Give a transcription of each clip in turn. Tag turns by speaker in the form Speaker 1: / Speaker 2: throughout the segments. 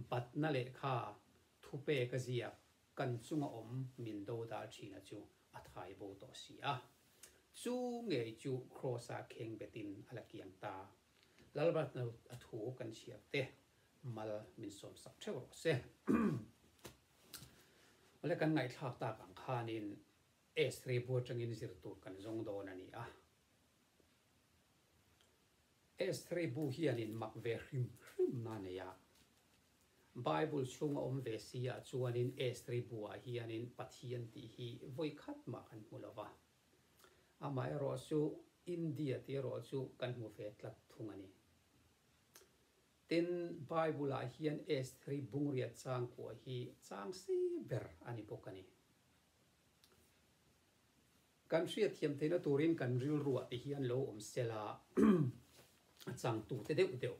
Speaker 1: batna leh kha thupek a ziak kan chunga awm min do dar thina chu a thai bo tawh si a, chu ngei chu Kraws a kheng bet in a la kiang ta. Lalbatna a thu kan chhiar te mal min sawm sak theuh rawh se. Awle kan ngaihthlak tak ang khan in Esri bua tangin zir tur kan zawng dawn a ni a. Estheri bu hian in mak ve hrim hrim a nei a. Bible chhung a awm ve si ah chuan in Estheri bu ah hian in Pathian tih hi vawi khat mah kan hmu lo a. Amah erawh chu India tih erawh chu kan hmu ve tlat thung a ni. Tin, Bible ah hian Estheri bung riat chang kuah hi chang si ber a ni bawk a ni. Kan hriatthiam theihna turin kan rilruah te hi an lo awm sela a chang tute deuh deuh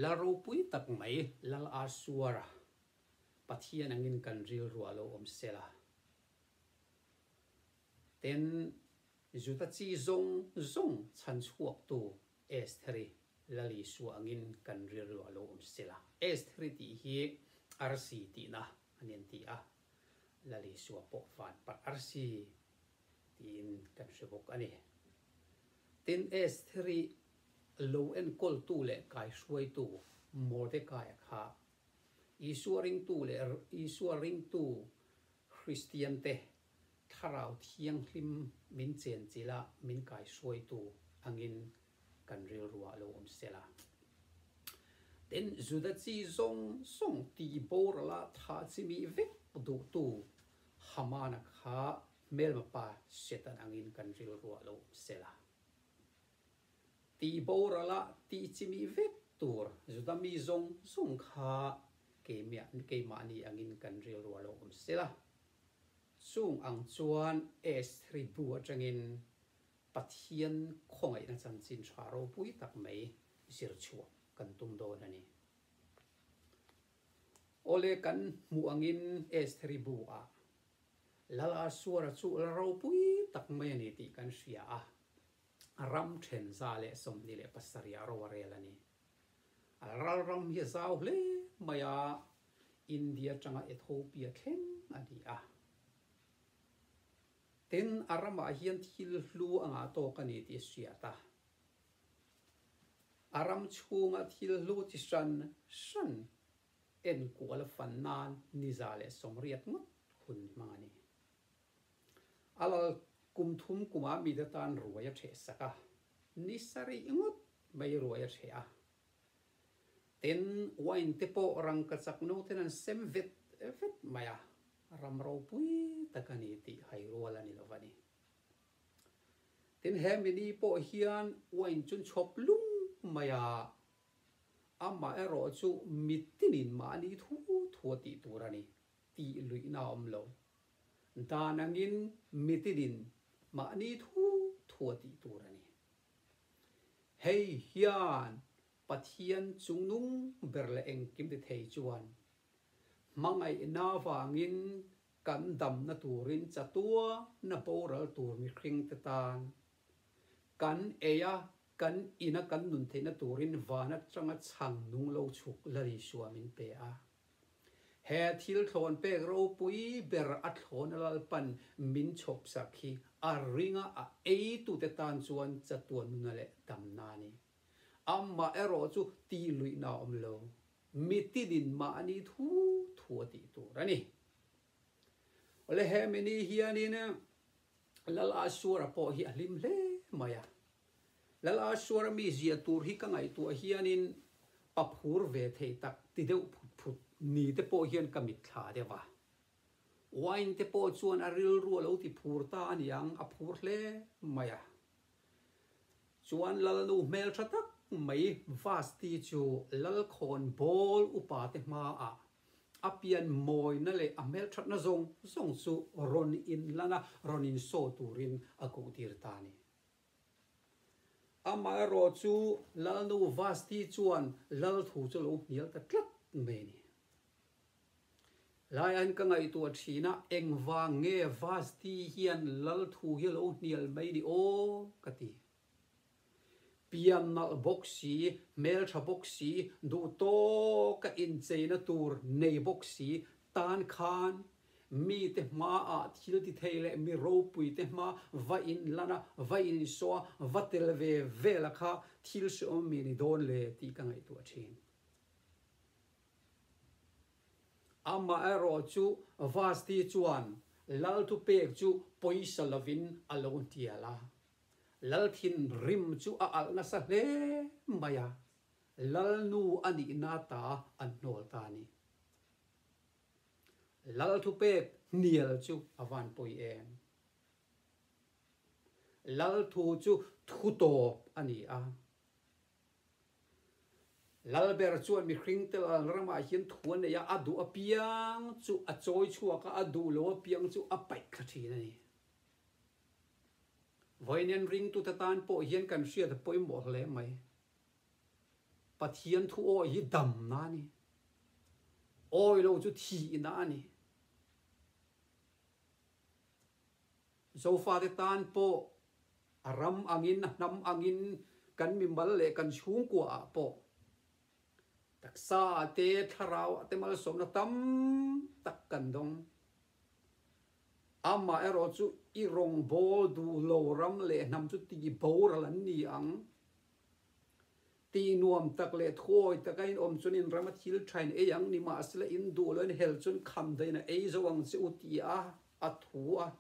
Speaker 1: la ropui tak mai lal a suar a Pathian angin kan rilruah lo awm sela ten zuta chi zawng zawng chhan chhuaktu Estheri lal Isua angin kan rilruah lo awm sela Estheri tih hi arsi tihna a nen ti a. Lalisua pawh van parh arsi tiin kan hre bawk a ni. Tin, Esther-i lo enkawltu leh kaihruaitu Mordecai-a kha Isua ringtu leh Isua ringtu Kristiante Thlarau Thianghlim min chenchilh a min kaihruaitu angin kan rilruah lo awm sela. Tin, Juda chi zawng zawng tihborala tha chimi vek duhtu Hamana kha hmelmapa Satan angin kan rilruah lo awm sela. Tihborala tih chimi vek tur Juda mi zawng zawng kha keimiah, keimahni angin kan rilruah lo awm sela. Chung ang chuan Esthri bu atangin Pathian khawngaihna chanchin tha ropui tak mai zir chhuah kan tum dawn a ni. Awle kan hmuh angin Estheri bu ah Lal Asuara chu la ropui tak mai a ni tih kan hria a, a ram then za leh sawmhnih leh pasarih ah ro a rel a ni. A Lalram hi a zau hle mai a, India atanga Ethopia thleng a ni a. Tin, a ramah hian thil hlu a ngah tawk a ni tih a hriat a. A ram chhunga thil hlu chi hran hran enkual a fan nan niza leh sawmriat ngawt hun hmang a ni. A lal kum thum kumah mi te tan ruai a ṭheh sak a, ni sarih ngawt mai ruai a ṭheh a. Tin, wine te pawh rangkachak noten an sem vet vet mai a, ram ropui tak a ni tih hai rual a ni lo va ni. Tin, he mini pawh hian wine chu chhawp lung mai a, amah erawh chu mitin in mah a ni thu thu a tih tur a ni, tih luihna a awm lo. Dan angin mitin in mah a ni thu thu a tih tur a ni. Hei hian Pathian chungnung ber leh engkim ti thei chuan hmangaihna vangin kan damna turin chatua na boral tur mihringte tan kan ei a, kan ina kan nun theihna turin van atanga chhang nung lo chhuk la risuam in pe a. He thil thlawn pek ropui ber a thlawn a lalpan min chhawpsak hi a ringa a eitute tan chuan chatuan nuna leh damna a ni. Amah erawh chu tih luihna a awm lo, mitinin mahni thu thu a tih tur a ni. Awle hemi ni hianin Lal Ashura pawh hi a hlim hle mai a. Lal a suar a mi zia tur hi ka ngaihtuah hianin paphur ve thei tak ti deuh phut phut ni te pawh hian ka mit thla deuh a. Wine te pawh chuan a rilru a lo ti phur ta a niang, a phur hle mai a. Chuan Lal nu hmel tha tak mai Vasti chu Lal khawn bawl upa te hma ah a pian mawina leh a hmelthatna zawng zawng chu rawn in lan a, rawn in show turin a koh tir ta a ni. Amaherawh chu Lalnu Vasti chuan Lalthu chu lo hnial ta tlat mai a ni. Laiain ka ngaihtuah thin a, engvang nge Vasti hian Lalthu hi a lo hnial mai ni aw ka ti. Pian nalh bawk si, hmeltha bawk si, duhtawka incheina tur nei bawk si, tan khan Mite hmaah thiltithei leh mi ropuite hma va inlana, va insawa, va tel ve ve la kha thil hriawm mi ni dawn le tih ka ngaihtuah a thin. Amaherawh chu Vasti chuan Lalthu pek chu pawisa lovin a lo hnial a, Lal thinrim chu a alh nasa hle mai a, Lalnu a nihna ta an hnawl ta a ni. Lalthu pek hnial chu a vanpui em? Lalthu chu thu tawp a ni a. Lalber chuan mihring te Lalramah hian thu a nei a, a duh apiang chu a chawi chhuak a, a duh lo apiang chu a paih thla thin a ni. Vawiin en ringtute tan pawh hian kan hriat pawimawh hle mai. Pathian thu awi hi damna a ni. Awi lo chu thihna a ni. Zofate tan pawh a ram angin, a hnam angin, kan mimal leh kan chhungkuaah pawh taksaa te, thlarauah te malsawmna tam tak kan dawng. Amah erawh chu i rawngbâwl duhlo ram leh hnam chu tih boral an ni ang. Ti nuam tak leh thuawi taka in awm chun in rama thil thain ei ang ni mahsela in duh loin hel chun kham dain a ei zo ang che u tiah a thu a,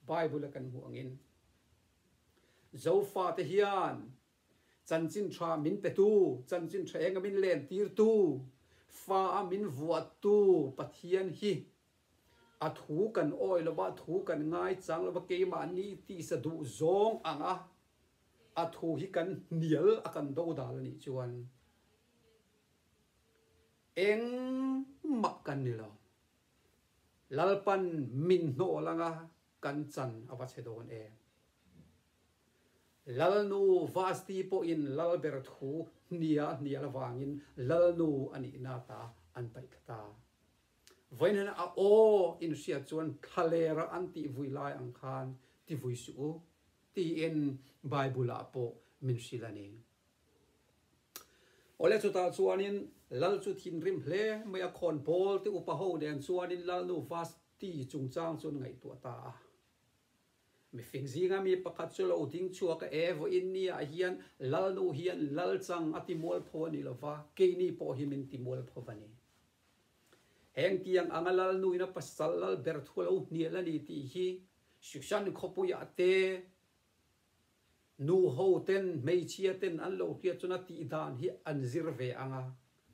Speaker 1: Bible a kan hmuh angin. Zofa te hian chanchin tha min petu, chanchin tha enga min lentirtu, fa a min vuattu Pathian hi a thu kan awi lova, thu kan ngai chang lova, keimah ni tisa duh zawng ang a, A thu hi kan hnial a kan do dal a nih chuan eng mah kan ni lo. Lalpan min hnawh langa kan chan a va che dawn em. Lalnu Vasti pawhin Lalber thu hnia a hnial avangin Lalnu a nih na ta an paih thla ta. Vawiinana a aw in hriat chuan thlaler a an tih vui lai ang khan ti vui suh u. Tiin Bible-ah pawh min hrilh a ni. Awle chutah chuanin Lal chu thinrim hle mai a, khawn pawl te upa ho nen chuanin Lalnu Vasti chungchang chu an ngaihtuah ta a. Mifing zinga mi pakhat chu lo ding chhuak a, E vaw Inniaah hian Lalnu hian Lalchang a ti mual pho a ni lo va, keini pawh hi min ti mual pho va ni. Hengtiang anga Lalnuina pasal lal ber thu a lo hnial a ni tih hi Susan khawpuia te nu ho ten hmeichhia ten an lo hriat chuan a tih dan hi an zir ve ang a,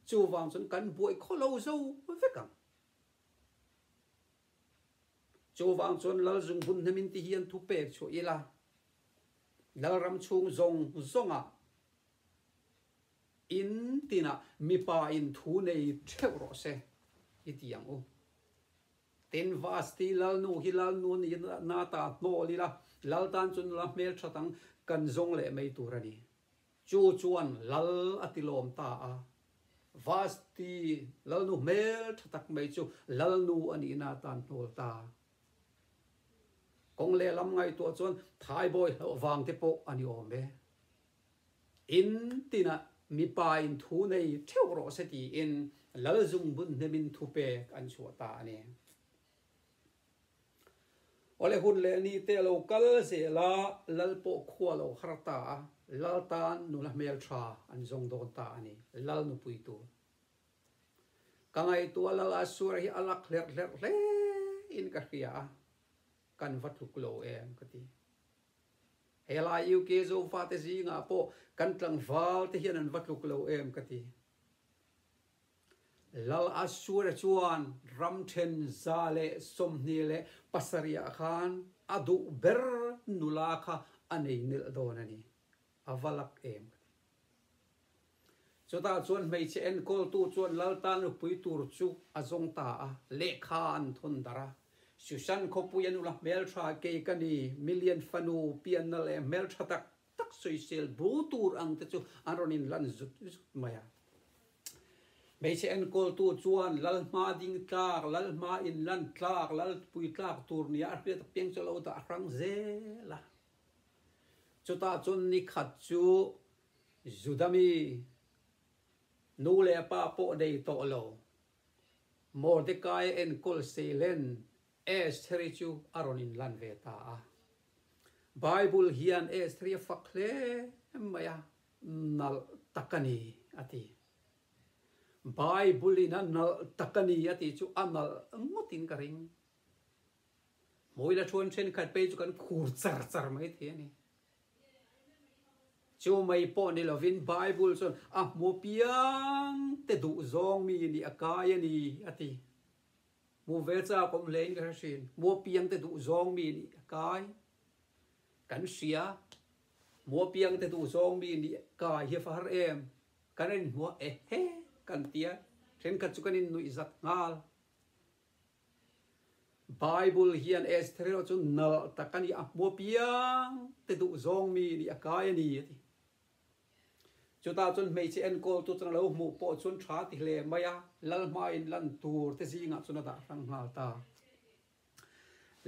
Speaker 1: chuvang chuan kan buai khaw lo zo vek ang. Chuvang chuan Lalzung hun hna min ti hi an thu pek chhuah ila, Lalram chhung zawng zawnga in tinah mipa in thu nei theuh rawh se i ti ang u. Tin, Vasti Lalnu hi Lalnu niin na ta hnawh ila, Lal tan chu nula hmelthat ang, kan zawng leh mai tur a ni. Chu chuan Lal a ti lawm ta a. Vasti Lalnu hmel tha tak mai chu Lalnu a nih na tan hnawl ta. Kawng lehlam ngaihtuah chuan Thaibawi hlauh vang te pawh a ni awm e. In tinah mipa in thu nei theuh rawh se tiin Lalzung bun hnemin thu pek an chhuah ta a ni. Awle hun leh ni te lo kal zel a Lal pawh khua lo har ta a, Lal tan nula hmeltha an zawng dawn ta a ni. Lal nupui tu. Ka ngaihtuah Lal a suar hi a lak hlerh hlerh hle in ka hria a, kan va tluk lo em ka ti. Helai UK zofate zingah pawh kan tlangval te hian an va tluk lo em ka ti. Lal Asura chuan ram then za leh sawmhnih leh pasarihah khan a duh ber nula kha a nei melh dawn a ni. A va lak em ka ti. Chutah chuan hmeichhe enkawltu chuan Laltan lupui tur chu a zawng ta a, lehkha an thun darh a. Susan khawpui a nula hmeltha kei ka ni, Million fanu pianna leh hmeltha tak tak sawisel bu tur ang te chu an rawn inlan zut zut mai a. Hmeichhe enkawltu chuan Lal hma ding tlak, Lal hma inlan tlak, Lal pui tlak tur nia a hriat piang chu a lo dah hrang zel a. Chutah chuan nikhat chu Juda mi nu leh a pa pawh nei tawh lo. Mordekai a enkawl seilen Estheri chu a rawn inlan ve ta a. Bible hian Estheri a fak hle mai a, Nalh tak a ni a ti. Bible in a nalh tak a ni a tih chu a nalh ngawtin ka ring. Hmawila ṭhuan ṭhenkhat pei chu kan khur char char mai thei a ni. Chu mai pawh ni lovin Bible chuan a hmu piang te duh zawng mi nih a kai a ni a ti. Hmu ve che a awm hlein ka hre thin. Hmu piang te duh zawng mi nih a kai. Kan hria hmu piang te duh zawng mi nih a kai hi fahar em. Kan rinhmuah e he kan tia thenkhat chu kan innuih zat nghal. Bible hian Esther-a chu nalh tak a ni a, hmuapiang te duh zawng mi nih a kai a ni a ti. Chutah chuan hmeichhe enkawltu chuan a lo hmuh pawh chuan tha ti hle mai a, lalhmaiin lan tur te zingah chuan a dah hrang nghal ta.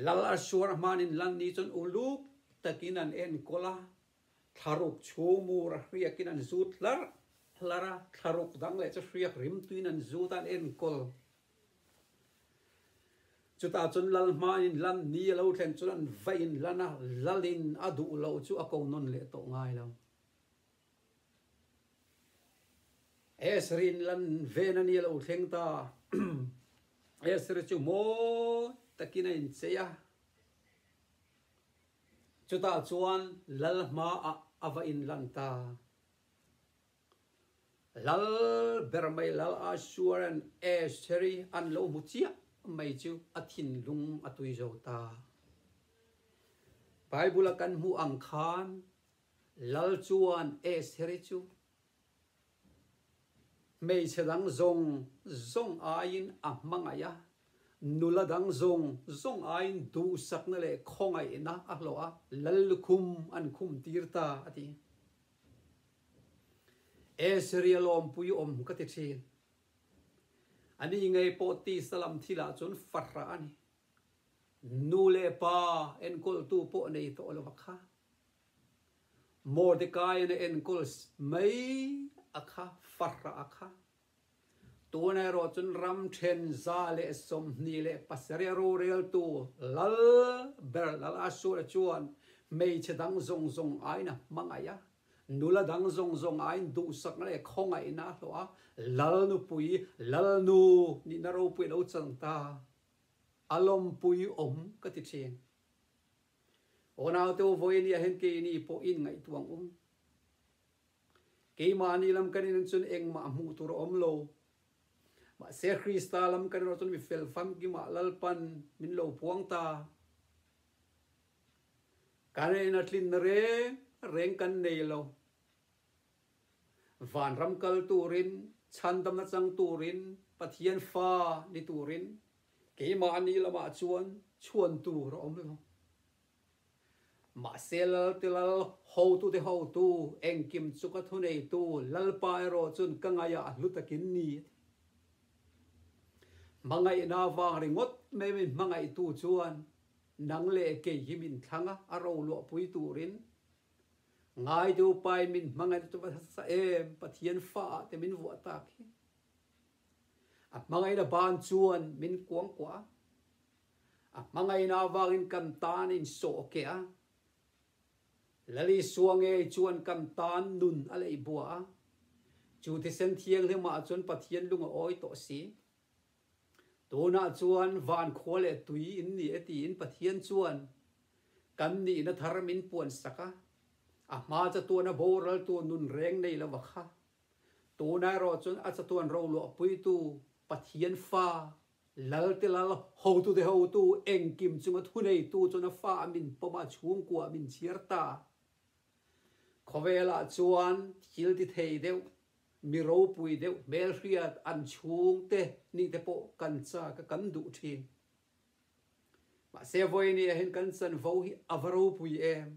Speaker 1: Lal a suar a hmanin lan ni chuan uluk takin an enkawl a, thlaruk chhumur a hriakin an zut hlar hlar a, thlaruk dang leh chu hriak rimtuin an zut a, an enkawl Chutah chuan lal hmanin lan ni a lo thlen chuan an va in lan a, lalin a duh loh chu a ko nawn leh tawh ngai lo. Esrin lan ven a ni a lo thleng ta a, Esri chu mawi takin a inchei a, chutah chuan lal hmaah a va in lan ta a. Lal ber mai Lal Asuar and Aseri an lo hmu chiah mai chu a thinlung a tui zo ta. Bible-a kan hmuh ang khan Lal chuan Aseri chu hmeichhe dang zawng zawng aiin a hmangaih a, nula dang zawng zawng aiin duhsakna leh khawngaihna a hlawh a, lal lukhum an khumtir ta a ti. E Syria lawmpui awm ka ti thin. Ani ngei pawh tisa lam thil ah chuan farha a ni. Nu leh pa enkawltu pawh nei tawh lo a kha. Mordecai-in a enkawl mai a kha, farha a kha. Tun erawh chun ram then za leh sawmhnih leh pasarih roreltu lal ber lal a sual ah chuan hmeichhe dang zawng zawng aiin a hmangaih a, nula dang zawng zawng aiin duhsak leh khawngaihna a hlawh a, lalnupui, lalnu nihna ropui a lo chan ta, a lawmpui awm ka ti thin. Aw naute u vawiin i ahin kei ni pawh in ngaihtuah ang um. Keimahni lam kan in cun engmah hmuh tur a um lo. Mahse Krista lam kan in ruah cun mi fel famkim ah lalpan min lo phuang ta. Kan in a tlin reng reng kan nei lo. Vanram kal tur in, chhandam na cang tur in, Pathian fa ni tur in keimahni lam ah cun chuan tur a um lo. Mahse Lalte Lal hotute hotu engkim chu ka thu neitu Lalpa erawh chun ka ngaih a hlu takin ni a ti. Hmangaihna avang ringawt mai min hmangaihtu chuan nang leh kei hi min thlang a, a ro luahpui turin Ngaitu Pain min hmangaih ta hre sa em, Pathian fa ah te min vuah tak hi. A hmangaihna ban chuan min kuang kuah a. A hmangaihna avangin kan tan in sawh a keh a. Lali Suangei chuan kan tan nun a lei buah a. Chu thisen thianghlim ah chuan Pathian lung a awi tawh si. Tunah chuan van khua leh tui in ni e tiin Pathian chuan kan nihna thar min puan sak a. A hma chatuan a boral tu nun reng nei lo a kha. Tunah erawh chuan a chatuan roluah puitu Pathian Fa Lalte lal hotute hotu engkim chunga thuneitu chuan a fa a min pawm a, chhungkua a min chhiar ta. Khawvelah chuan thil ti thei deuh, mi ropui deuh hmelhriat an chhungte ningte pawh kan chaka kan duh thin. Mahse vawiin ahin kan chanvo hi a va ropui em?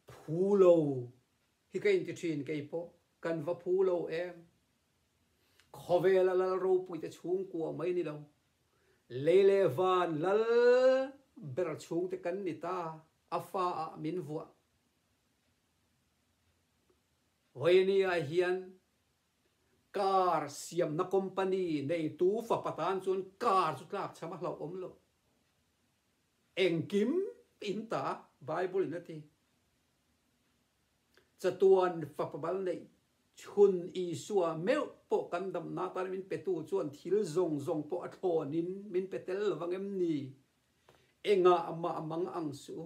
Speaker 1: Phu lo hi ka inti thin, kei pawh kan va phu lo em? Khawvela lal ropuite chhung kuah mai ni lo. Lei leh van lal ber chhung te kan ni ta, a fa ah min vuah. Vawini-a hian car siamna company neitu fapa tan chuan car chu tlak chham a hlauh awm loh. Engkim in ta, Bible in a ti. Chatuan fapa bal neih chhun Isua meuh pawh kan damna atana min petu chuan thil zawng zawng pawh a thlawnin min pe tel lovang em ni? Engah amah a mang ang suh u,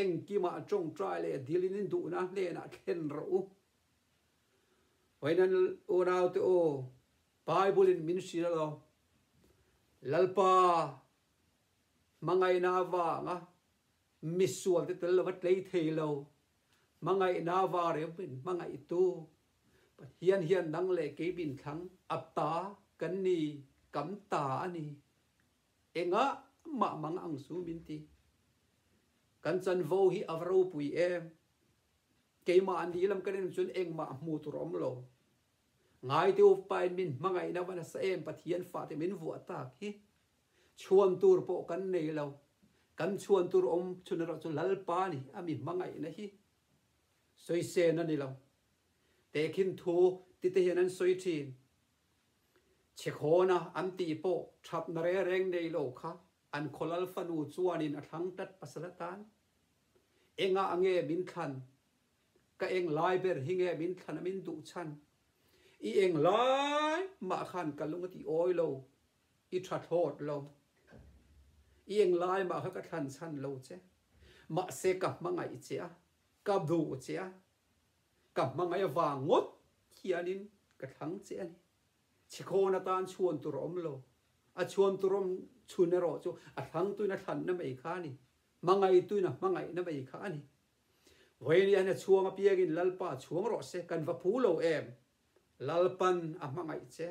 Speaker 1: engkima a tawngtai leh a dil in in duhna hnenah thlen rawh u. Vainan unaute aw, Bible in min hrilh a lo. Lalpa hmangaihna avanga Misual te tel lova tlei thei lo hmangaihna va reu in hmangaih tu Pathian hian nang leh kei min thlang a ta kan ni kam ta a ni. Engah mah mang ang chu min ti. Kan chanvo hi a va ropui em. Keimah an dih lam kan en chuan engmah hmuh tur awm lo. Ngaite upa in min hmangaihna va nasa em Pathian fate min vuah tak hi Chhuan tur pawh kan nei lo. Kan chhuan tur awm chhun erawh chu Lalpa ni a mi hmangaihna hi sawi sen a ni lo. Te khin thu ti te hian an sawi thin. Chhekhawn a an tih pawh thatna reng reng nei lo kha an khaw lal fanu chuanin a thlang tat pasal atan. Engah a nge min thlan? Ka eng lai ber hi nge min thlan a min duh chhan? I eng lai mah khan ka lung a ti awi lo. I tha thlawt lo. I eng lai mah kha ka thlan chhan lo che. Mahse ka hmangaih che a, ka duh che a. Ka hmangaih avang ngawt hianin ka thlang che a ni. Chhikhawn atan chhuan tur a awm lo. A chhuan tur awm chhun erawh chu a thlang tuin a thlanna mai kha a ni. Hmangaih tuin a hmangaihna mai kha a ni. Vawihnia hian a chhuang apiangin Lalpa chhuang rawh se, kan va pu lo em? Lalpan a hmangaih che.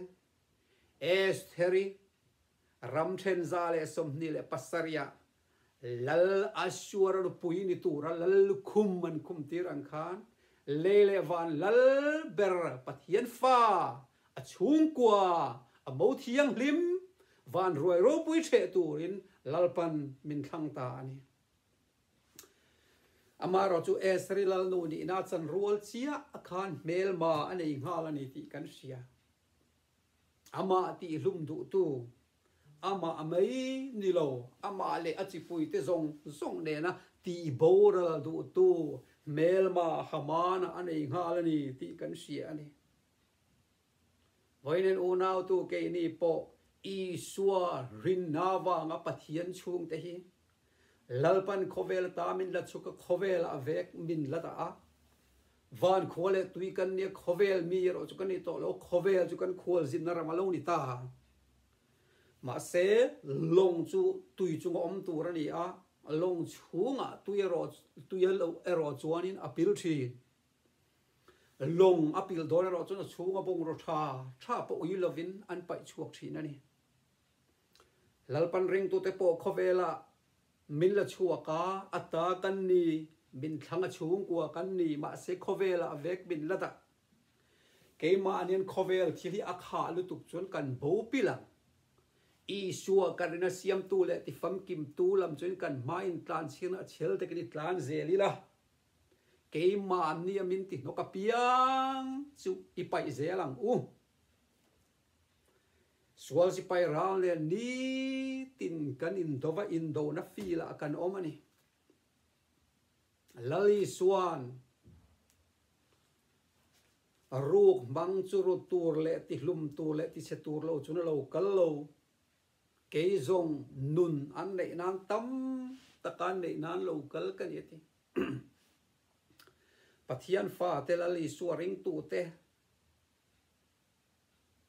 Speaker 1: Estheri ram ṭhenza leh sawmhnih leh pasarih-a Lal Ashur-a lupui ni tura Lal lukhum an khum tir ang khan lei leh van lal ber Pathian Fa a chhungkua a mo thianghlim van ruai ropui ṭheh turin Lalpan min thlang ta a ni. Amaherawh chu Esri Lalnu nihna chan rual chiah a khan hmelma a nei nghal a ni tih kan hria. Amah tih hlum duhtu, amah mai ni lo, amah leh a chipuite zawng zawng nena tih boral duhtu hmelma Hamana a nei nghal a ni tih kan hria a ni. Vawiin an unautu keini pawh Isua rinna vanga Pathian chhungte hi Lalpan khawvel ta min la chuka khawvelah vek min la ta a. Vankhua leh Tuikannia khawvel mi erawh chu kan ni tawh lo, khawvel chu kan khual zinna ram a lo ni ta. Mahse, lawng chu tui chunga awm tur a ni a, lawng chhungah tui erawh, tui erawh chuanin a pil thin. Lawng a pilh dawn erawh chuan a chhung a bungraw tha tha pawh ui lovin an paih chhuak thin a ni. Lalpan ringtute pawh khawvelah min la chhuak a, a ta kan ni, min thlang a chhungkua kan ni, mahse khawvelah a vek min la dah. Keimahni hian khawvel thil hi a khah lutuk chuan kan bo pilh ang. Isua kan rin a siamtu leh tifamkimtu lam chuan kan hmain tlanchhiakna a chhial takin i tlan zel ila. Keimah an nia min ti hnawk apiang chu i paih zel ang u. Sual sipai ral nen nitin kan indaw va, indawhna feel ah kan awm a ni. Lali chuan ruk hmang chu rut tur leh tihlum tur leh tichhe tur lo chu na lo kal lo. Kei zawng nun an neih nan tam taka an neih nan lo kal ka nia ti. Pathian fa te Lal Isua ring tu te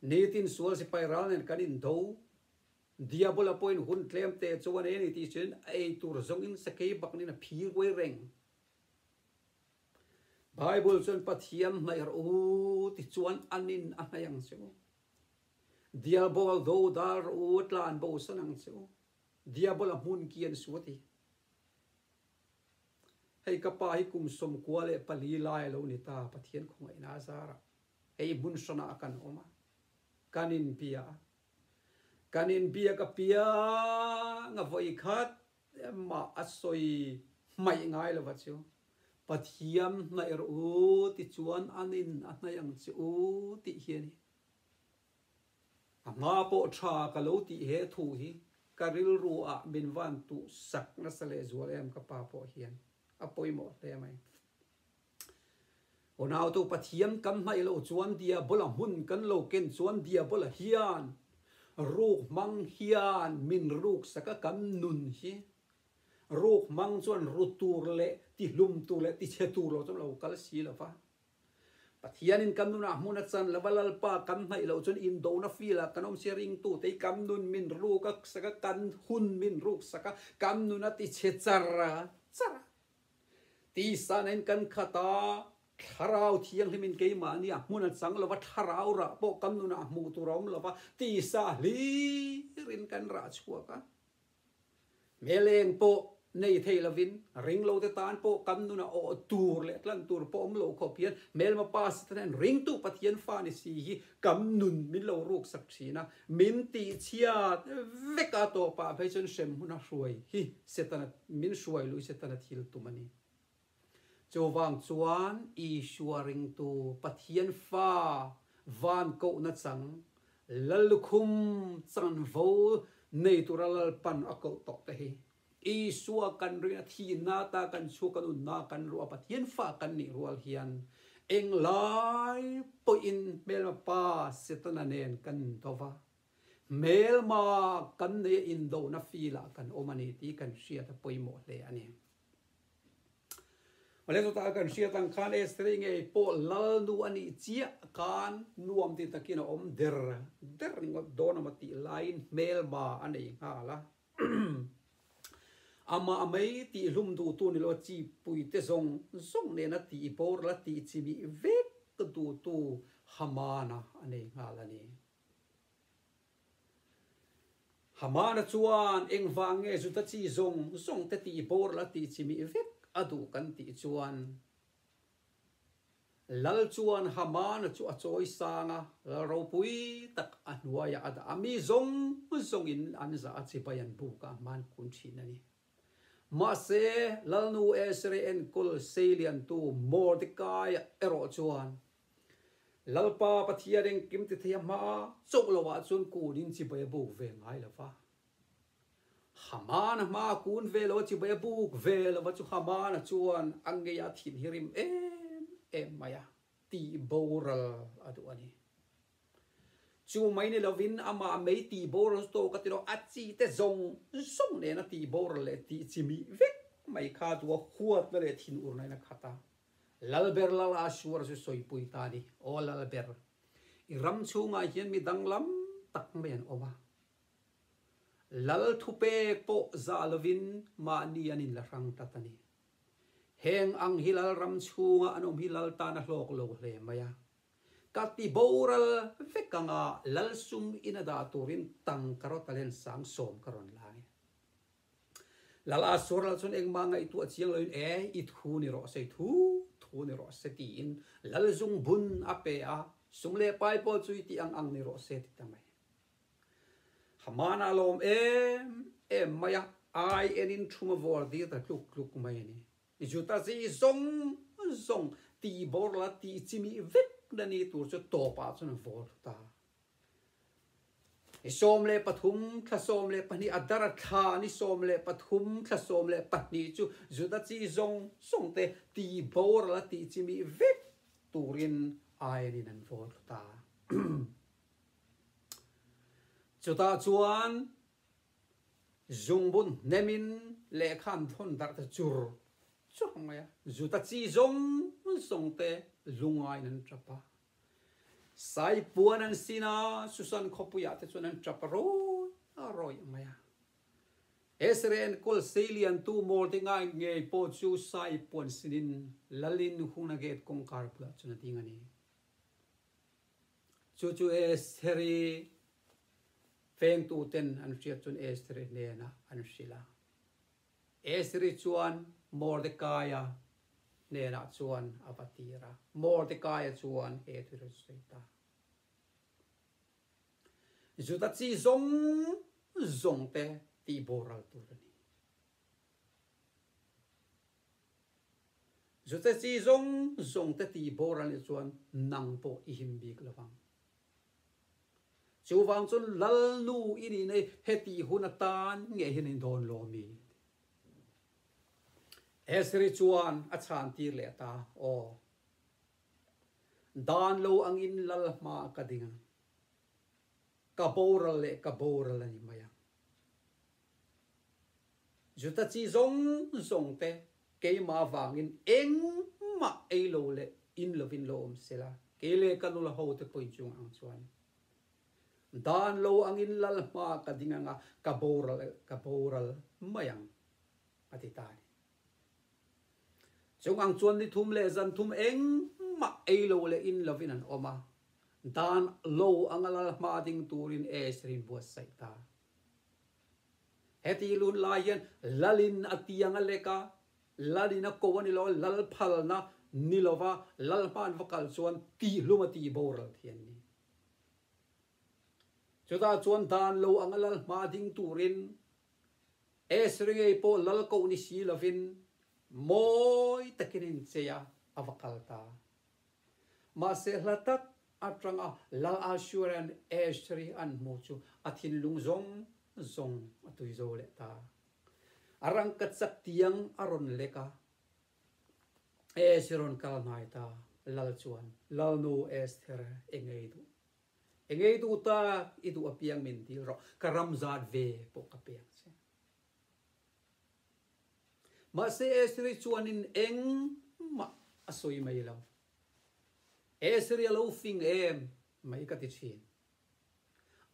Speaker 1: nitin sual sipai ral nen kan in do, Diabola pawhin hun tlem te chu a nei a ni tih sualin a ei tur zawng in sakei bak nen a phi ruai reng. Bible chuan Pathian hnaih rawh u ti chuan an in a hnaih ang che maw? Diabol do dar rawh u, tlan bo san ang che u, Diabol a hmun kian su a ti. Hei ka pa hi kum sawm kua leh pali lai a lo ni ta, Pathian khawngaihna a zar a, hei hmun hrana a kan awm a, kan in biah a, kan in biak a piang a vawi khat em mah a sawi hmaih ngai lo va chu, Pathian hnaih rawh u ti chuan an in a hnaih ang che u tih hian A hma pawh tha ka lo tih he thu hi ka rilru ah min van tuh sak nasa leh zual em ka pa pawh hian a pawimawh hle mai. Unautu Pathian kan hnaih lo chuan Diabol a hmun kan lo ken chuan Diabol a hian ruk hmang hian min ruk sak a kan nun hi ruk hmang chuan ru tur leh ti hlum tur leh ti chhe tur lo chuan a lo kal si lo va. Pathianin kan nunah hmun a chan lova Lalpa kan hnaih loh chuan indona filah kan awmchhe ringtute i kan nun min ruk a sak a, kan hun min ruk sak a, kan nun a tichhe char a, char a. Tisanain kan khat a, Thlarau Thianghlimin keimahni a hmun a chang lova thlarau rah pawh kan nunah hmuh tur a awm lova tisa hlir in kan rah chhuak a. Hmeleng pawh nei thei lovin ringlote tan pawh kan nun a awh tur leh a tlan tur pawh awm lo khawp hian Hmelma pa si tan hian ringtu Pathian fa ni si hi kan nun min lo ruksak thin a, min tihchhiat vek a tawpah phei chuan hrem hmuna hruai hi Setana, min hruai lui Setana thil tum a ni. Chuvang chuan Isua ringtu Pathian Fa van kohna chang Lal lukhum chanvo nei tura lalpan a koh tawh te hi Isua kan rin a thihna ata kan chhuak a nunna kan ruah Pathian Fa kan nih rual hian eng lai pawhin hmelma pa Setana nen kan indaw va, hmelma kan neia indona filah kan awm a ni tih kan hriat a pawimawh hle a ni. Awle chuta kan hriat ang khan Esther-i nge Paul lalnu a nih chiah khan nuam ti takin a awm der der ringawt dawn a ma tih laiin hmelba a nei nghal a. Amah mai tihhlum duhtu ni lo chi puite zawng zawng nena tih bawr la tih chimi vek duhtu Hamana a nei nghal a ni. Hamana chuan engvang nge Juda chi zawng zawngte tih boral a tih chimih vek a duh kan tih chuan Lal chuan Hamana chu a chawi sang a, lal ropui tak a hnuaiah a dah a, mi zawng zawngin an zah a, chibai an buk a, hmaan kun thin a ni. Mahse, Lalnu Esreen kul seiliantu Mordekaia erawh chuan Lalpa Pathian engkim ti thei a hma a, chauh lo ah chuan kun in chibai a buk ve ngai lo va. Hamana hma ah kun ve lo a chibai a buk ve lo a chu Hamana chuan a ngei a thin hi rim em em mai a ti boral a duh a ni. Chu mai ni lo in amah mei ti boral chu tawk a ti lo, a chi te zawng zawng nen a ti boral leh tih chimi vek mai kha chu a huat na leh thin ur na in a khat a. Lalber Lala suar chu sawipui ta ni. Aw Lalber, i ram chhungah hian mi danglam tak mai an awm a. Lalthupek pawh zah lovin mahni an inla hrang tlat a ni. Heng ang hi Lalram chhunga an awm hi Lal tana hlawk lo hle mai a. Ka ti boral vek anga Lalsum ina dah turin tangka rawt a lensang sawm ka rawn la a ni. Lal ah Suarlal chuan engmah ngaih tu a chiang lo in ee i thu ni rawh se, thu thu ni rawh se tiin Lal zung bun a pe a, Sum leh pai pawl chu i tih ang ang ni rawh se ti ta mai. Haman a lawm em em mai a, ai en in thuma vuar dir ta tluk tluk mai a ni. Juta zii zawng zawng tihbawr la tih chimi vek na ni tur chu tawp ah chuan a vawl thut a. I sawm leh pathum thla sawm leh pahnih a dar a thla ni sawm leh pathum thla sawm leh pahnih chu Judachi zawng zawng te ti boral a tih chimi vek turin ain in an vawl thlut a. Chutah chuan zungbun hnem in lehkha an thlawn dar ta chur chur mai a, Judachi zawng zawng te lunga in an tap a. Sai puan an sin a, Susan khawpuiah te chuan an tap a rawih a rawih mai a. Sran Kul Sei Lian tu Mawl te ngai ngei pawh chu Sai puan sinin Lalin Huna Gate kawngkar bulah chuan a ding a ni. Chu chu Sri feng tu ten an hriat chuan Sri hnenah an hrilh a. Esri chuan Mordekaia hnenah chuan a va tir a, Mordekaia chuan he thil a sawi ta, Juda chi zawng zawngte tih boral tur a ni. Juda chi zawng zawngte tih boral leh chuan nang pawh i him bik lovang. Chuvang chuan Lalnu i nih nai heti hun atan nge hian in dawn lawmi? Ezri chuan a chhan tir leh ta, Aw, dan lo angin Lal hma ka ding a, ka boral leh ka boral a ni mai ang. Juda chi zawng zawng te keimah vangin engmah ei lo leh in lo vin lo awm sela, kei leh ka nula ho te pawhin chung ang chuan dan lo angin lal hma ka ding anga ka boral ka boral mai ang a ti ta ani. Chung ang chuan ni thum leh zan thum engmah ei lo leh in lo vin an awm a, dan lo anga lal hma ding turin Ace rin buatsaih ta. Heti lun lai hian Lalin a tiang a lek a, Lalin a ko a ni lo a, Lal phalna ni lo va, Lal hmaan va kal chuan tihhlum a tih boral thiam ni. Chutah chuan dan lo anga Lal hma ding turin Esri ngei pawh Lal koh ni si lovin mawi takin inchei a, a va kal ta. Mahse hla tak atanga La Assuran Estuary an hmu chu a thinlung zawng zawng a tuizo leh ta. A rangkachak tiang a rawn lek a, Ace i rawn kal hnai ta lal chuan, Lalnu Esther, i ngei duh. I ngei duh tak, i duh apiang min dil rawh, ka ramzat ve pawh ka pek che. Mahse Esri chuanin engmah a sawi mai lo. Esri a lo fing em mai ka ti thin.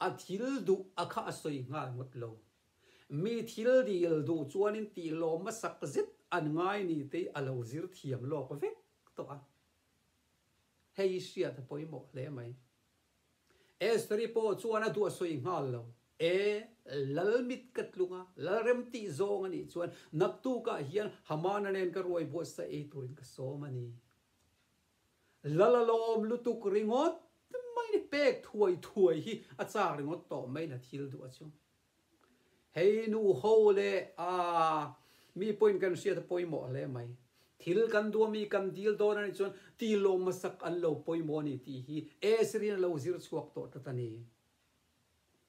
Speaker 1: A thil duh a kha a sawi nghal ngawt lo. Mi thil dil duh chuanin tih lawmna sak zet an ngai ni te a lo zir thiam lawk vek tawh a. Hei hriat pawimawh hle mai. Esteri pawh chuan a duahsawi nghal lo. E, Lalmit ka tlung a, Lalrem tih zawng a nih chuan naktukah hian Hamana nen ka ruai buatsaih ei turin ka sawm a ni. Lal a lawm lutuk ringawt mai ni, pek thuai thuai hi a chak ringawt tawh mai la thil duh a chu. Hei nu ho leh aa mi point kan hriat a pawimawh hle mai. Thil kan duh ami kan dil dawn a nih chuan ti lawm masak an lo pawimawh a ni tih hi Esri na lo zir chhuak tawh ta ta ni.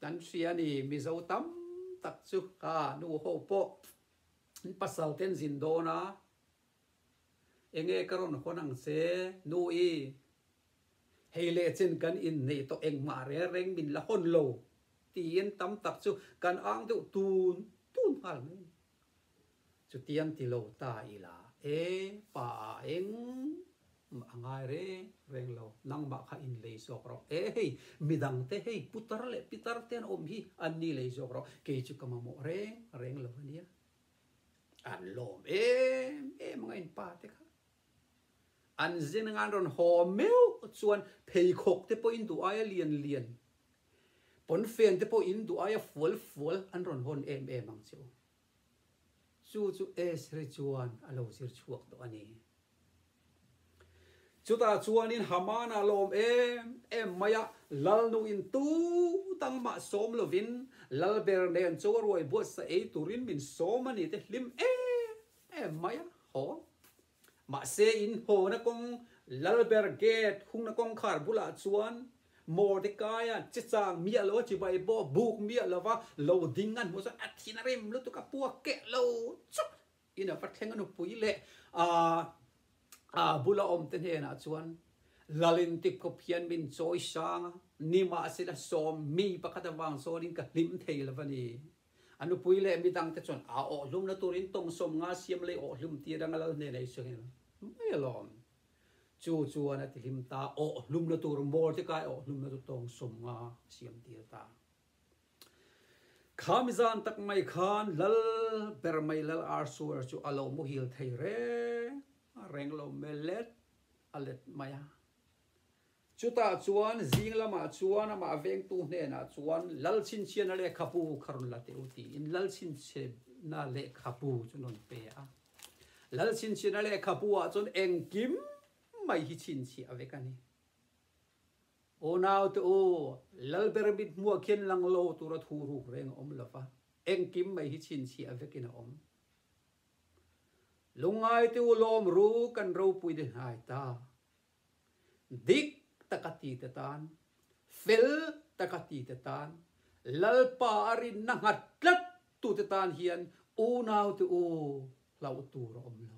Speaker 1: Kan hria a ni Mizo tam tak chu aa nu ho pawh an pasal ten zin dawn a. Enge ka rawn hawn ang che nu i? Hei leh chin kan inneih tawh engmah rengrenh min la hawn lo tiin tam tak chu kan ang deuh tun tun nghal mai a ni. Chutiang ti lo ta ila e pa a eng mah a ngai reng reng lo, nangmah kha in lei zawk rawh e hei midang te hei putar leh pitar te an awm hi an ni lei zawk rawh kei chu ka mamawh reng reng lo a nia An lawm em em ang a in pa te kha. An zin anga an rawn haw meuh chuan pheikhawk te pawhin duh aia lian lian, pawnfen te pawhin duh aia fual fual an rawn hawn em em ang che u. Chu chu Esri chuan a lo zir chhuak tawh a ni. Chutah chuanin Hamana lawm em em mai a, Lalnu in tu dang mah sawm lovin Lalber nen chu a ruai buatsa ei turin min sawm a ni te hlim em em mai a haw. Mahse inhawna kawng Lalber gate hungna kawngkhar bulah chuan Mordekaia chechang miah lo a chibai pawh buk miah lova lo ding a hmuh chuan a thinrim lutuk a puak keh lo chuh In a fathlenga nupui leh aa a bula awmte hnenah chuan Lalin tipkhawp hian min chawi sang a, ni mahsela sawm mi pakhat avang zawnin ka hlim thei lo a ni. A nupui leh mi dangte chuan aa awh hlumna turin tawngsawm nga siam lei awh hlum tir anga Lal hnenah i sawi angin, Mai alawm. Chu chuan a ti hlim ta, awh hlumna tur mawl te kai awh hlumna chu tawngsawm nga a siam tir ta. Khami zan tak mai khan lal ber mai lal ar su er chu a lo muhil thei reng a reng lo hmel let a let mai a. Chutah chuan zing lamah chuan amah vengtu hnenah chuan lal chhinchhiana lehkha pu kha rawn la teh u tiin lal chhinchhiana lehkha pu chu an rawn pe a. Lal chhinchhiana lehkha pu ah chuan engkim mai hi chhinchhiah vek a ni. Aw naute aw, Lal ber mit hmuah khian lang lo tura thu ruk reng a awm lova, engkim mai hi chhinchhiah vekin a awm. Lungai te u lawm ru kan ropui de hnai ta. Dik taka ti te tan, fel taka ti te tan, Lalpa a rinna nghat tlat tute tan hian u naute aw hlauh tur a awm lo.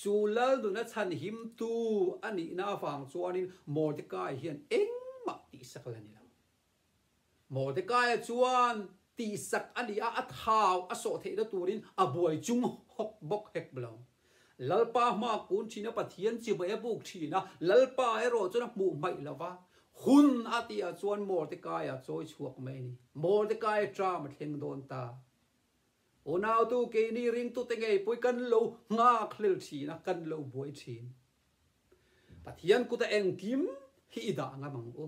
Speaker 1: Chu lal nuna chhanhim tu a nihna avang chuanin Mordecai hian engmah tihsak la ni lo. Mordecai-a chuan tihsak a ni a, a thau a sawh theihna turin a buai chung hawk bawk hek lo. Lalpa hma kun thina Pathian chi mai a buk thin a, Lalpa erawh chuan a hmuh hmaih lo va, hun a tihah chuan Mordecai-a chawi chhuak mai a ni. Mordecai-a ṭam a thleng dawn ta. Unautu keini ringtute ngeipui kan lo nghakhlel thin a, kan lo buai thin. Pathian kuta engkim hi i dah ngam ang u.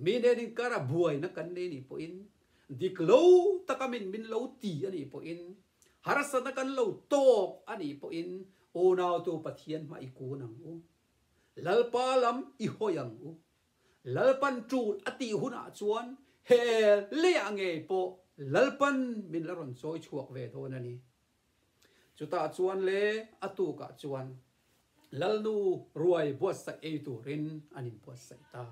Speaker 1: Mi hnenin kara buaina kan nei nih pawhin, dik lo taka min min lo ti a nih pawhin, harsatna kan lo tawk a nih pawhin Unautu Pathian hmah i kun ang u. Lalpa lam i hawi ang u. Lalpan tul a tih hunah chuan he leiah ngei pawh Lalpan min la rawn chawi chhuak ve dawn a ni. Chutah chuan le a tukah chuan Lalnu ruai buatsaih ei turin an inbuatsaih ta.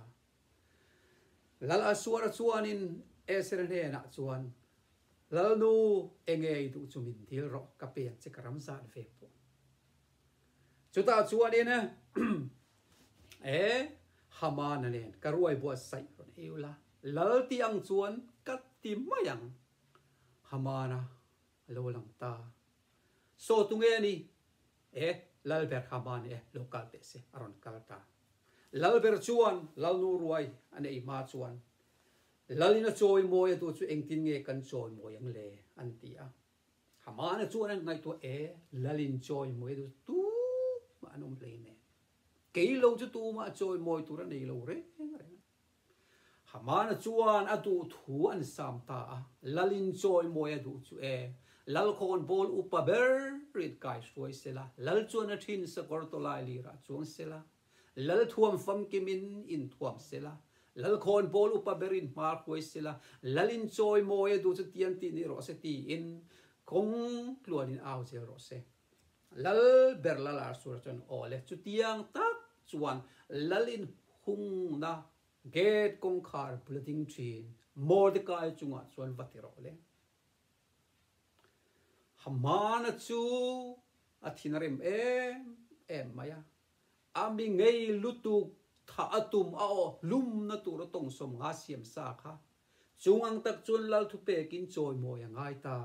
Speaker 1: Lalasuara chuanin Esera hnenah chuan Lalnu enge i duh chu min dil rawh, ka pen che ka ram zat ve pawh. Chutah chuanin e e Hamana nen ka ruai buat saih rawh i ula, lalti ang chuan ka ti mai ang. Hamana a lo lang ta. Saw tunge a ni e, Lalber Hamana e lo kal teh se a rawn kal ta. Lalber chuan Lalnu ruai a nei hma chuan Lalina chawi mawi a duh chu engtin nge kan chawi mawi ang le? an ti a. Amahna chuan an ngaihtuah e, Lalin chawi mawi chu tumah an awm hle nen, kei lo chu tumah chawi mawi tur a nei lo reng reng a. Amahna chuan a duh thu an sam ta a, Lalin chawi mawi a duh chu e, Lalkhawn bawl upa ber rit kai hruai sela, Lal chuan a thin sakawr tawlai lirah chuang sela, Lalthuam famkim in inthuam sela, lalkhawn pawl upa ber in hmar huai sela, lal in chawi mawi a duh chu tiang tih nih rawh se tiin kawng tluan in au zel rawh se. Lal ber lal ar sur chuan aw le chu tiang tak chuan lal in hung na gate kawngkhar bula ding thin Mordecai chungah chuan va ti rawh le. Hamana chu a thinrim em em mai a. A mi ngei lutuk thah a tum a awh hlumna tur a tawngsawm nga siam sa kha chung ang tak chuan lalthu pekin chawimawi a ngai ta.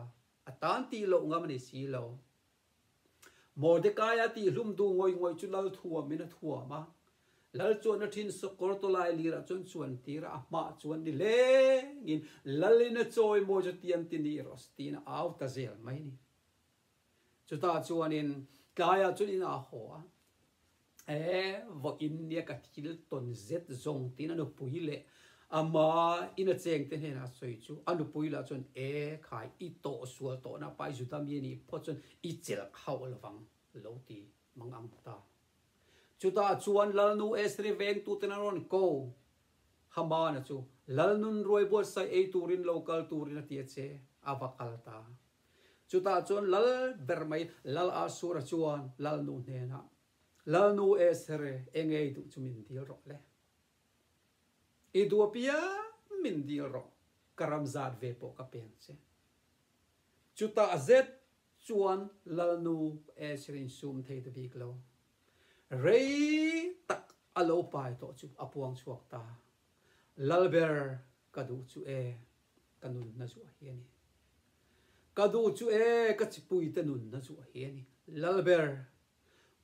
Speaker 1: A tan tih loh ngam a ni si lo. Mordekaia tih hlum duh ngawih ngawih chu lal thuamin a thuam a. Lal chuahna ṭhin sawkawr tawlai lirah chuan chuan tir a, a hmah chuan ni hlengin, Lalina chawimawi chu tiam ti ni rawh si tiin a au ta zel mai a ni. Chutah chuanin tlaiah chuan in aa haw a, Ee, vawh in nia ka thil tawn zet zawng, tiin a nupui leh ama in a chengte hnenah sawi chu. A nupui lah chuan, Ee, khai, i tawh sual tawhna pai Juda mi a nih pawh chuan i chelh hauh lo vang lo ti mang ang ta. Chutah chuan Lalnu Esri vengtuten an rawn ko. Hamana chu Lalnun ruai buatsaih ei turin lo kal turin a ti a che, a va kal ta. Chutah chuan Lal ber mai Lal Asura chuan Lalnu hnenah, Lalnu e sere, e ngei duh chu min dil rawh le. I duh apiang min dil rawh, ka ram zat ve pawh ka peng che. Chutah zet chuan Lalnu e sere in sum thei ta bik lo. Rei tak a lo pai tawh chu a puang chhuak ta. Lal ber ka duh chu e ka nun hna zu a hi ani. Ka duh chu e ka chipui te nun hna zu a hi ani. Lalber,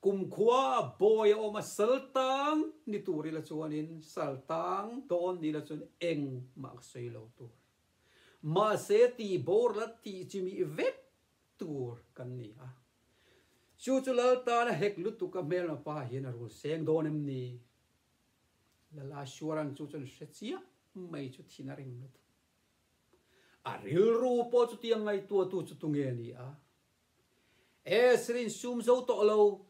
Speaker 1: kum khua bawi a awm a saltang ni tur ila chuan in saltang dawn ni ila chuan eng mah ka sawi lo tur. Mahse ti bawr la ti chimi vek tur kan ni a. Chu chu Laltana hek lutuk a hmel ma pa hian a rul seng dawn em ni? Lala Suaran chu chuan hre chiah mai chu thin a ring lut. A rilru pawh chuti a ngaihtuahtu chu tunge a ni a? E Srin sum zo tawh lo,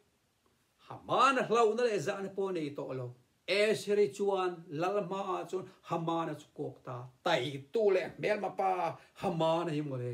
Speaker 1: Hamana hlauhna leh zahna pawh nei tawh lo. E Sri chuan Lal hmaah chuan Hamana chu kawk ta, taitu leh hmelma pa Hamana hi maw le?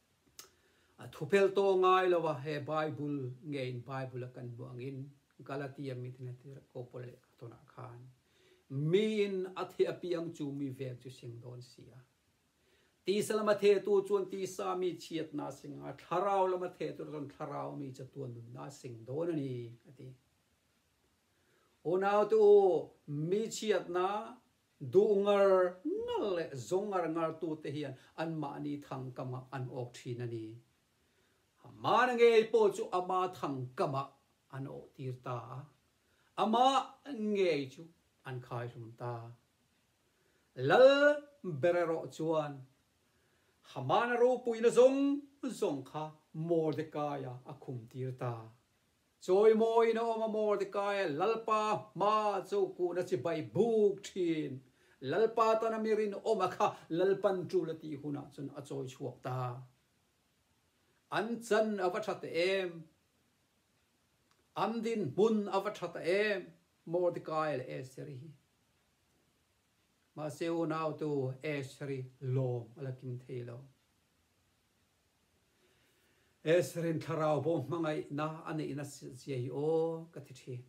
Speaker 1: A thuphelh tawh ngai lo a, he Bible nge in Bible a kan hmuh angin Galatia mi ten ti ko Paul leh ka tawnah khan mi in a theh a pi ang chu mi veng chu hring dawn si a. Tisa lama theh tu chuan tisa mi chhiat na sing a, thlarau lama theh tur chuan thlarau mi chatuan nun na sing dawn a ni a ti. Unaute u mi chhiat na Duh ngar ngar leh zawng ngar ngartu te hian anmahni thangkama an awk thin a ni. Amana ngei pawh chu ama thangkamah an awhtir ta a, ama ngei chu an khaihlum ta. Lal ber erawh chuan Hamana ropuina zawng zawng kha Mordekaiah a khumtir ta. Chawi mawiin a awm a maw tikah Lalpa hma chu kuhna chi bai buk thin. Lalpa tan ami rinawma kha Lalpan tul a tih hunah chuan a chawi chhuak ta. An chan a va tha ta em? An dinhmun a va tha ta em? Mordecai leh Esther hi. Mahse unautu Esther hi lawm a la kim thei lo. Ezrin thlarau bo hmangaihna a neihna zia hi aw ka ti thin.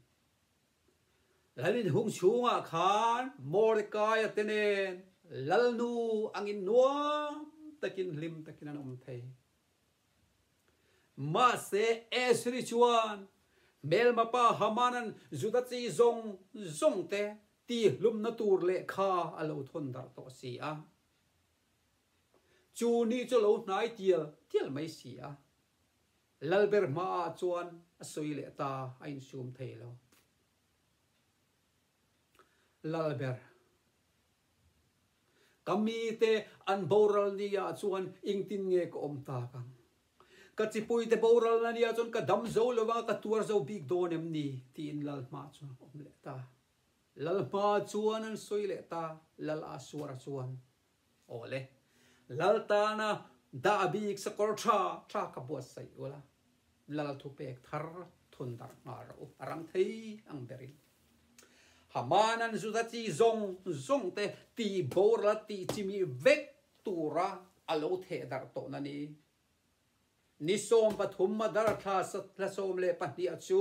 Speaker 1: Lalin hung chhungah khan Mordekaia te nen lalnu angin nuam takin hlim takin an awm thei. Mahse Ezri chuan hmelmapa Hamanan Juda chi zawng zawngte tihlumna tur lehkha a lo thawn darh tawh si a. Chu ni chu lo hnai tial tial mai si a, lal ber hma ah chuan a sawi leh ta a insum thei lo. Lal ber. Ka mi te an boral ni ah chuan engtin nge ka awm tak ang? Ka chipui te boral na nia chuan ka dam zo lo vang a, ka tuar zo bik dawn em ni? tiin lal hma chuan ka awm leh ta. Lalhma chuan an sawi leh ta, Lal a suara chuan, Aw le, Lal tana dah bik sa kawr tha tha ka buat saih ula, Lal thu pek thar thun darh nghal rawh u, a rang thei ang berin. Haman an Juda chi zawng zawng te tih boral a tih chimi vek tura a lo theh darh tawh na ni, Ni sawm pathum Mother thla thla sawm leh pahniha chu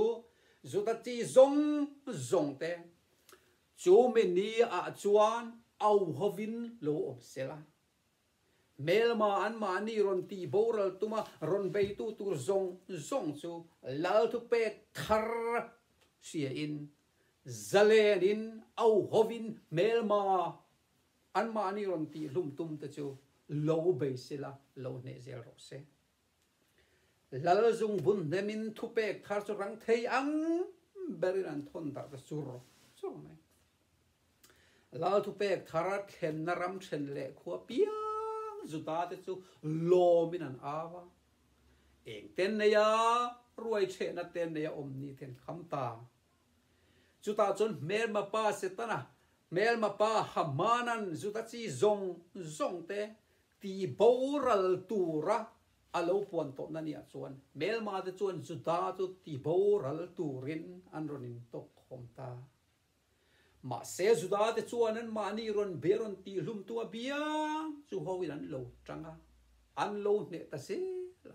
Speaker 1: zuta chi zawng zawng te chu mi ni ah chuan auhawv in lo awm sel a. Hmelma an mahni rawn ti boral tum a rawn bei tu tur zawng zawng chu Lalthu pek thar hria in zalen in auhawv in hmelma Anmah ni rawn tih hlum tum te chu lo bei sil a, lo hneh zel rawh se. Lalzung bun hnem in thu pek thar chu rang thei ang ber in an thawn darh ta chur chur mai. Lal thu pek thar a thlen na ram then leh khua piang zuta te chu lawm in an au a. Eng ten nei a ruai chhe na ten nei a awm ni ten kham ta Chutah chuan hmelma pa Setana, hmelma pa Hamanan Juda chi zawng zawngte ti boral tura a lo puan tawpna ni ah chuan hmelma te chuan Juda chu ti boral turin an rawn intawp khawm ta. Mahse Juda te chuan anmahni rawn bia rawn tih hlumtu a bia chu ho in an lo tang a, an lo hneh ta zel a.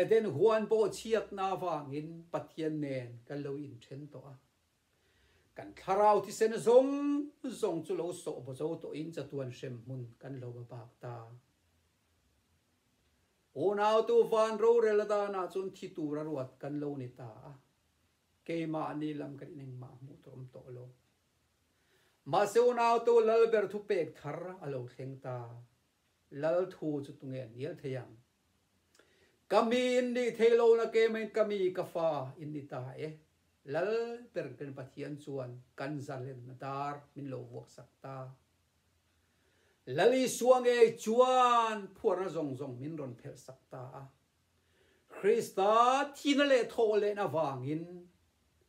Speaker 1: Eden huan pawh chhiatna avangin Pathian nen kan lo inthen tawh a, kan thlarau thisen zawng zawng chu lo sawhbazo tawhin chatuan hrem hmun kan lo va bak ta. Unautu van rorel danah chuan thi tur a ruat kan lo ni ta a, keimah ni lam kan in engmah hmuh tawh awm tawh lo. Mahse unautu lal ber thu pek thar a lo thleng ta. Lal thu chu tunge an ngial thei ang? Ka mi in ni thei lo na ke main ka mi ka fa in ni ta e. Lal per ken Pathian chuan kan zalen na dar min lo vuak sak ta. Lal Isua ngei chuan phuarna zawng zawng min rawn phelh sak ta a. Krista thina leh thawh lehna vangin.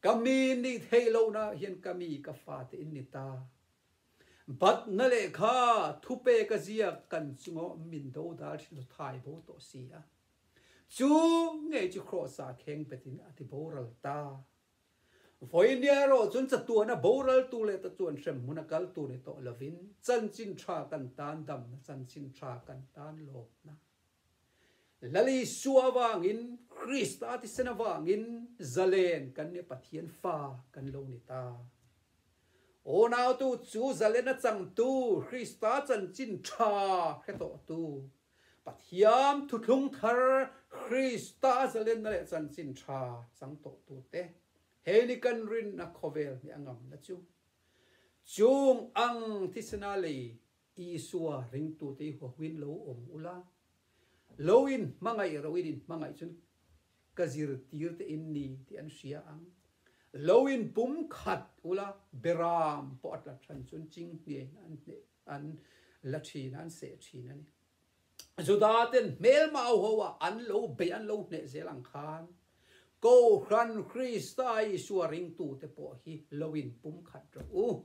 Speaker 1: Ka mi ni theih lo na hian ka mi ka fa te in ni ta. Bat na leh kha thu pe ka ziak kan chung aw min do dal thi lo thai bo tawh si a. Chu ngei chu Kraws ah kheng pet in a ti boral ta. Vawi nia erawh chuan chatuan a boral tu leh ta chuan hrem hmun a kal tu ni tawh lo in chanchin tha kan tan dam na chanchin tha kan tan lawm na. Lali suah avangin, Krista thisen avangin zalen kan nia Pathian Fa kan lo ni ta. Aw nautu chu zalen a changtu, Krista chanchin tha hretawhtu, Pathian thuthlung thar Krista zalenna leh chanchin tha chang tawhtu te hei ni kan rinna khawvel hmeh a ngamna chu. Chung ang thisena lei Isua ringtute i huahuin lo awm u la, lo in hmangaih ro in in hmangaih chuan ka zir tir te in ni tih an hria ang. Lo in pum khat u la, Beram pawh a tla than chuan ching hniai in an hneh an la thin a, an seh thin a ni. Juda ten hmel mau ho a an lo beih an lo hneh zel ang khan, Kohhran Krista Isua ringtute pawh hi lo in pum khat rawh u.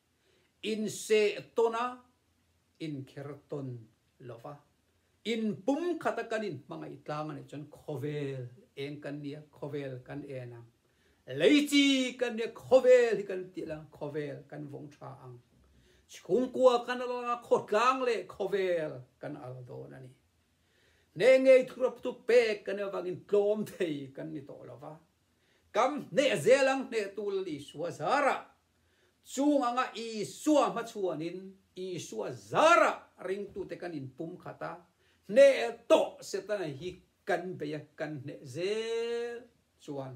Speaker 1: Inseh tawn a, inkher tawn lo va. In pum khata kan in hmangaih tlang a nih chuan khawvel eng kan nia, khawvel kan en ang. Lei chi kan nia, khawvel hi kan tih langa khawvel kan vawng tha ang. Chhungkua kan al langa khawtlang leh khawvel kan al dawn a ni. Hneh ngei thuraptu pek kan nih avangin tlawm thei kan ni tawh lo va. Kam hneh zel ang hneh tu Lalihsua zarah Chung anga Isua hmachuan in Isua zarah ringtute kan in pum khat a, hneh tawh Setana hi kan bei a kan hneh zel chuan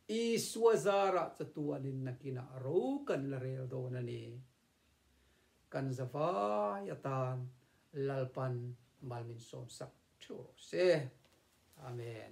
Speaker 1: Isua zarah chatuan in nakin ah ro kan la rel dawn a ni. Kan zavai atan Lalpan mal min sawmsak theuh rawh se. Amen.